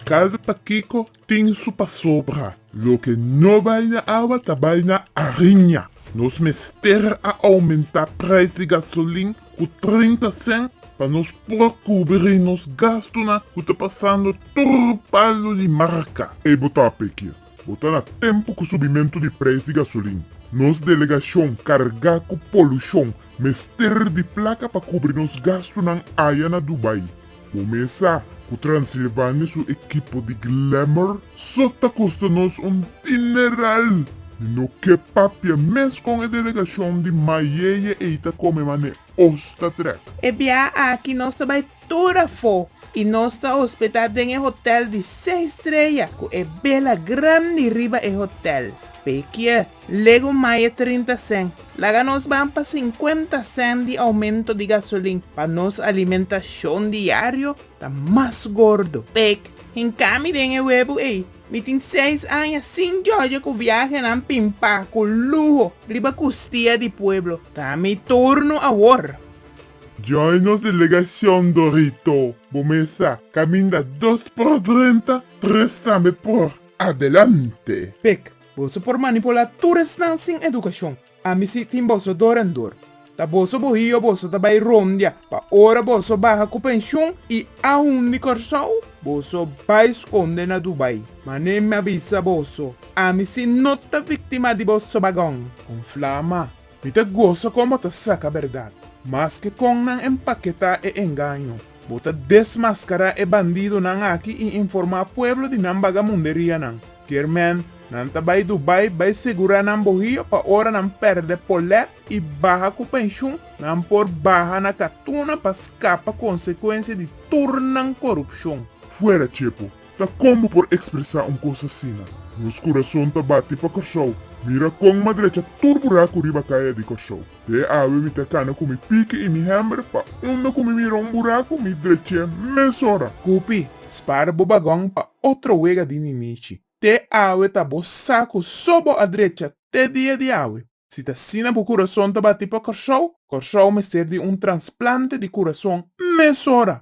Kalda pa kiko tin su pasobra. Loke no bai na awa ta bai na ariña. Nos mester a oumentá prijs di gasolin ku trinta sènt pa nos por kubrí nos gastunan ku ta pasando tur palu di marka. Ey bo ta p'e kies. Bo ta na tempu ku subimentu di preis di gasolin. Nos delegashon kargá ku polushon mester di plaka pa kubri nos gastunan aya na Dubai. Bo mes sa ku Transilvania su ekipo di glamor so ta kosta nos un dineral. Mi no ke papia mes kon e delegashon di mayeye ei ta kome mane os ta trek. E biaha aki nos ta bai Tur afó i nos ta hospedá den e hotèl di seis streya ku e bela grandi riba e hotèl. Pekiè, lego maye trinta sèn, laga nos ban pa sinkuenta sèn di oumento di gasolin pa nos alimentashon diario ta mas gordo. Pek, Hinkami den e webu ei, mi tin seis aña sin jòjò ku biahenan pimpá ku luho riba kustia di pueblo. Ta mi turno awor. Join nos delegacion Dorito, bo mesa caminda dos por drenta, tres tambe por adelante. Pec, boso por manipula tur esnan sin educacion. Ami si tin boso dor en dor. Ta boso bohio boso ta bay rondia pa ora boso baha cu pension y aun di Corsou boso bay sconde na Dubai. Manen mi a bisa boso, ami si no ta victima di bo sobagon. Con flama, Mi ta gosa kon bo ta saka berdad. Maske kon nan empaketá e engaño, bo ta desmaskará e bandidonan aki i informá pueblo di nan bagamunderianan. Kiermèn, nan ta bai Dubai bai segurá nan bohio pa ora nan pèrdè polèt i baha ku penshun, nan por baha na katuna pa skapa konsekuensia di tur nan korupshon. Fuera Chepo, Ta kon bo por ekspresá un kos asina? Nos kurason ta bati pa Kòrsou. Mira kon madrecha tur buraku riba kaya di Kòrsou. Te awe mi ta kana ku mi piki i mi hèmber pa unda ku mi mira un buraku mi drech'é mes ora. Hopi, spara bo bagòn pa otro wega di ninichi. Te awe ta bo sa ku so bo a drecha te dia di awe. Si ta asina bo kurason ta bati pa Kòrsou, Kòrsou mester di un transplante di kurason mes ora.